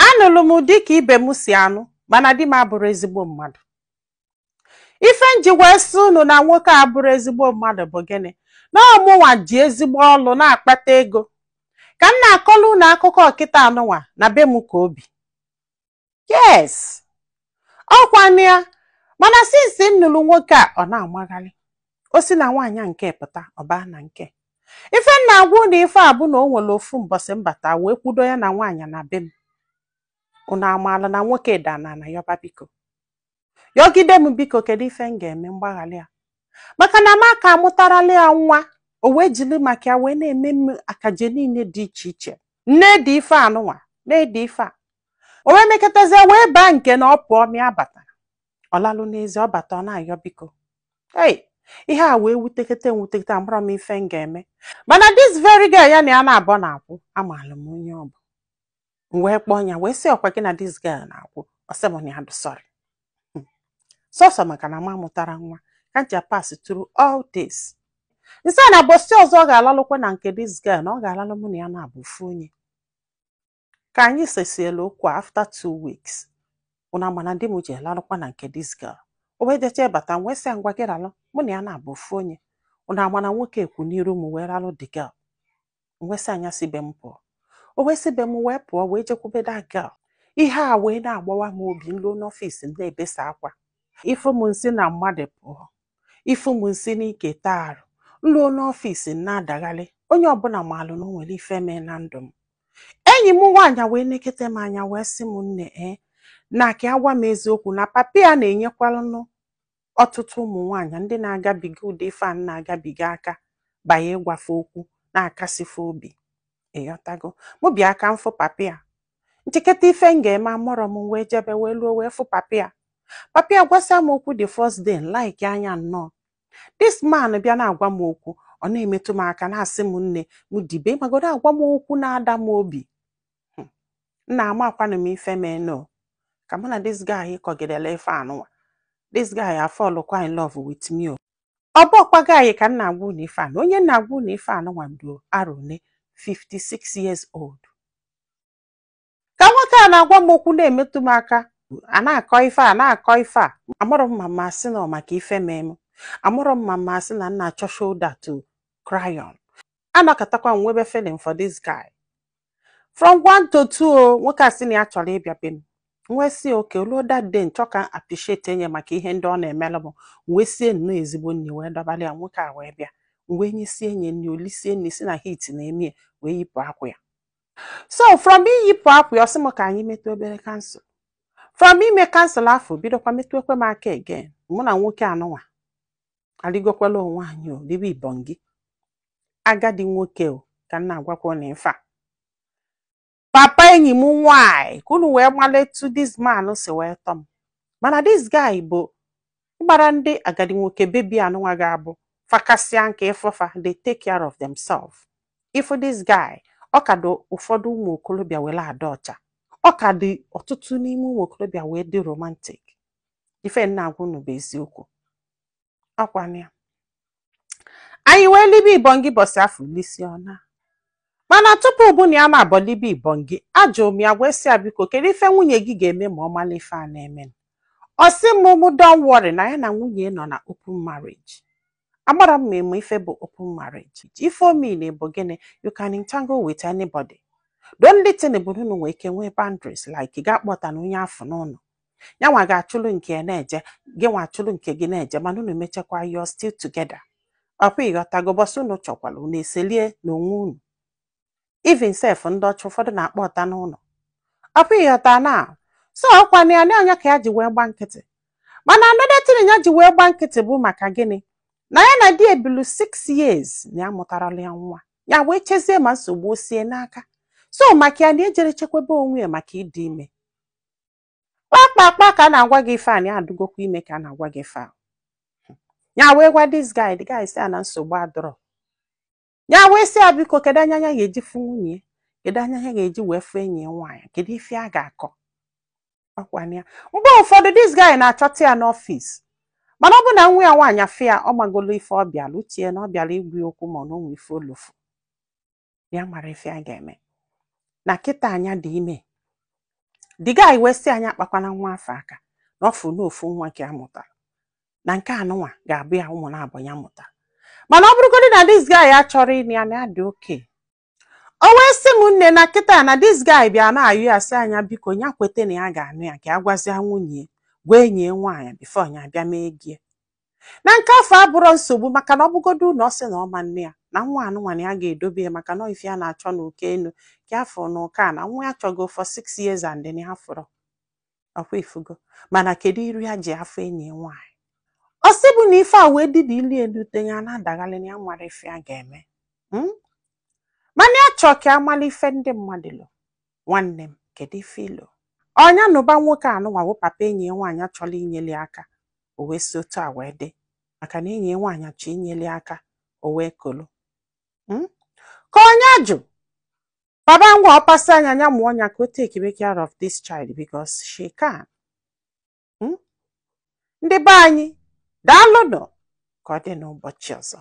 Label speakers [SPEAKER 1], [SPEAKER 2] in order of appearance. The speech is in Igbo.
[SPEAKER 1] anụrụ m di ka ibe m si anụ mana di m abụrụ ezigbo mmadụ ife nji wee sị unu na nwoke a abụrụ ezigbo mmadụ bụ gịnị na ọmụnwa ji ezigbo ọlụ na-akpata ego ka m na-akọrọ unu akụkọ ọ kịta anụnwa na be m ka o bi yes ọkwanụ ya mana since m nụrụ nwoke a ọ na-amagharị o si na nwaanyị nke a pụta ọ baa na nke ife m na-agwa ụnụ ife a bụ na o nwere ofu mbọsị m bata wee kwudo ya na nwaanyị na be m ụnụ amaala na nwoke daa n'ana yọba biko yọgide m biko kedu ife m ga-eme m gbaghara ya maka na m aka amụtarala ya nwa o wee jiri maka ya wee na-eme m akaje niile dị iche iche m na-edi ife anụnwa na-edi ife a o wee mekatazie wee baa nke na ọ pụọ ọ ma abata ọ lalụ n'ezi ọ bata ọ na-ayọ biko ei ihe a wee wutekete m wutekete amarọ m ife m ga-eme mana this very girl ya na ya naabọ na-akwụ amaalụ m onye ọ bụ m wee kpọọ ya wee sị ọkwa gị na this girl na-akwụ ọ sị m na ya dị sorry sọsọ maka na m amụtara nwa ka m ji pass through all this m sị ya na mbọsị ọzọ ọ ga-alalụkwa na nke this girl na ọ ga-aralụ mụ na ya naabọ ofu onye ka anyị sesiela okwu after two weeks ụnụ ama na di m jee larụkwa na nke this girl o wee jecha bata m wee sị ya ngwa gị ralụ mụ na ya naabọ ofu onye ụnụ ama na nwoke a kwụ n'iru m wee ralụ the girl m wee sị ya nya si be m pụọ o wee si be m wee pụọ wee jekwube that girl ihe a wee na-agbawa m obi m ruo n'office m na-ebesa akwa ị fụ m m si na mmadụ pụọ ị fụ m m si n'ike taa arụ m ruo n'office m na-adagharị onye ọbụla maalụ na o nwere ife mee na ndụ m enyi m nwaanyị wee nekete m anya wee sị m nne e na ka ya gwa m eziokwu na papi a na-enyekwalụnụ ọtụtụ ụmụ nwaanyị ndị na-agabiga ụdị ife a m na-agabiga aka banye ịgwa fe okwu na-akasi fe obi ịghọtago mụ bịa ka m fụ papi a m cheketa ife m ga-eme amarọ m wee jebe wee luo wee fụ papi a papi a gwasịa m okwu the first day like anya nnọọ this man bịa na-agwa m okwu ọ na-emetụ m aka na-asị m nne m dibe magodo agwa m okwu na-ada m obi hmm. nna amakwanụ m ife meenụ ka mụ na this guy kọgidela ife anụnwa this guy a fall kwa in love with me o ọ bụrọkwa guy ka m na-agwa unu ife anụ onye m na-agwa unu ife anụnwa dị arọ one 56 years old ka nwoke a na-agwa m okwu na-emetụ m aka a na-akọ ife a na-akọ ife a amarọ m ma m asị na ọ maka ife mee m amarọ m ma m asị na m na-achọ shoulder to cry on anọkatakwa m nwebe feeling for this guy from one to two o nwoke a sị na ya chọrọ ịbịa be m m wee sị okay o ruo that day m chọọ ka m appreciatie nya maka ihe ndị ọ na-emelụ m wee sie nnọọ ezigbo nri wee dọbara ya nwoke a wee bịa m wee nyesie nya nri o lisie nri sị na heat na-eme ya wee yipụ akwa ya so from iyipụ akwa ya ọ sị m ka anyị metụ obere counsel from ime counsel afụ bidokwa metụkwa m aka again mụ na nwoke anụnwa aligokwala onwe anyị o libe ibongi agadi nwoke o ka m na-agwakwa unu ife a papa enyi m nwanyị ka unu wee malụ etu this man si wee tọ m mana this guy bụ ị mara ndị agadi nwoke bi ebe anụnwa ga-abụ fa kasịa nka ị fụ fa they take care of themselves ị fụ this guy ọ ka dị ụfọdụ ụmụ okorobịa wee na-adị ọcha ọ ka dị ọtụtụ n'ime ụmụ okorobịa wee dị romantic ife m na-agwa unu bụ eziokwu ọkwa na ya anyị wee libe ibongi bọsị afụ elisie ọ naa mana tupu mụ na ya naabọ libe ibongi ajụrụ m ya wee sị ya biko kedu ife nwunye gị ga-eme ma ọ mala ife a na-eme ọ sị m mụ don't worry na ya na nwunye nọ na open marriage amarọ m ma ị ma ife bụ open marriage ife ọ mean bụ gịnị you can entangle with anybody the only thing bụ na unu nwee ike nwee boundaries like ị ga-akpọta na onye afụ n'ụlọ ya nwa ga-achụlụ nke ya na-eje gị nwa achụlụ nke gị na-eje mana unu mechakwa you're still together ọkwa ịghọtago bọsị unu chọkwara unu eselie n'onwe unu even sef ndị ọcha ụfọdụ na-akpọta n'ụlọ ọkwa ịghọta na so ọkwa na ya na ọ ya ka ya ji wee gba nkịtị mana another thing ya ji wee gba nkịtị bụ maka gịnị na ya na di ebilu 6 years na ya amụtarọlụ ya nwa ya wee chezie ma nsogbu o si ya n'aka so maka ya na ejerọ chekwebe onwe ya maka ịdị ime kpakpakpa ka a na-agwa gị ife a na ya adụgokwa ime ka a na-agwa gị ife a ya wee gwa this guy the guy sị ya na nsogbu adịrọ ya wee sị ya biko kedu anya ya ga-eji fụ nwunye kedu anya ya ga-eji wee fụ enyi ya nwaanyị kedu ife a ga-akọ ọkwa na ya mgbe ụfọdụ this guy na-achọta ya n'ọfịs mana ọ bụ na nwa ya nwaanyị afụ ya ọ magolo ife ọ bịala o che na ọ bịala ịgwa ya okwu marọ na o nwe ife olofu ya amarọ ife ya ga-eme na kịta na ya dị ime the guy wee sị ya akpakwana nwa afụ aka na ọ fụ na ofu nwa ka ya mụtara na nke anụnwa ga-abụ ya ụmụ naabọ ya mụtara mana ọ bụrụgodị na this guy achọrọ ịnụ ya na ya dị okay o wee sị m nne na kịta na this guy bịa na-ayọ ya sị na ya biko ya kweta na ya ga-anụ ya ka ya gwazia nwunye gwa enyi ya nwaanyị before ya bịa mee gie na nke afụ abụrọ nsogbu maka na ọ bụgodu na ọ sị na ọ ma-anụ ya na nwa anụnwa na ya ga-edobe ya maka na ife ya na-achọ na uko enu ka a fụ na uko ana nwa ya chọgo for six years and then ya afụrọ ọkwa ifugo mana kedu iru ya ji afụ enyi ya nwaanyị ọ sị mụ na ife a wee dị na ili elu te ya na-adaghalị na ya amarọ ife ya ga-eme Mm? mana ya chọọ ka a mala ife ndị mmadụ lo nwanne m kedu ife i lo ọ ya nụba nwoke anụnwa wụ papa enyi ya nwaanyị achọla inyeli aka o wee si otu a wee dị maka na enyi nwaanyị a chọ inyeli aka o wee kolo hmm? ka onye ajụ baba nwa ọpasa anya anya mụọ ọnya ka o take be care of this child because she can hmm? ndị be anyị daalụnụ ka ọ dị n'ụbọchị ọzọ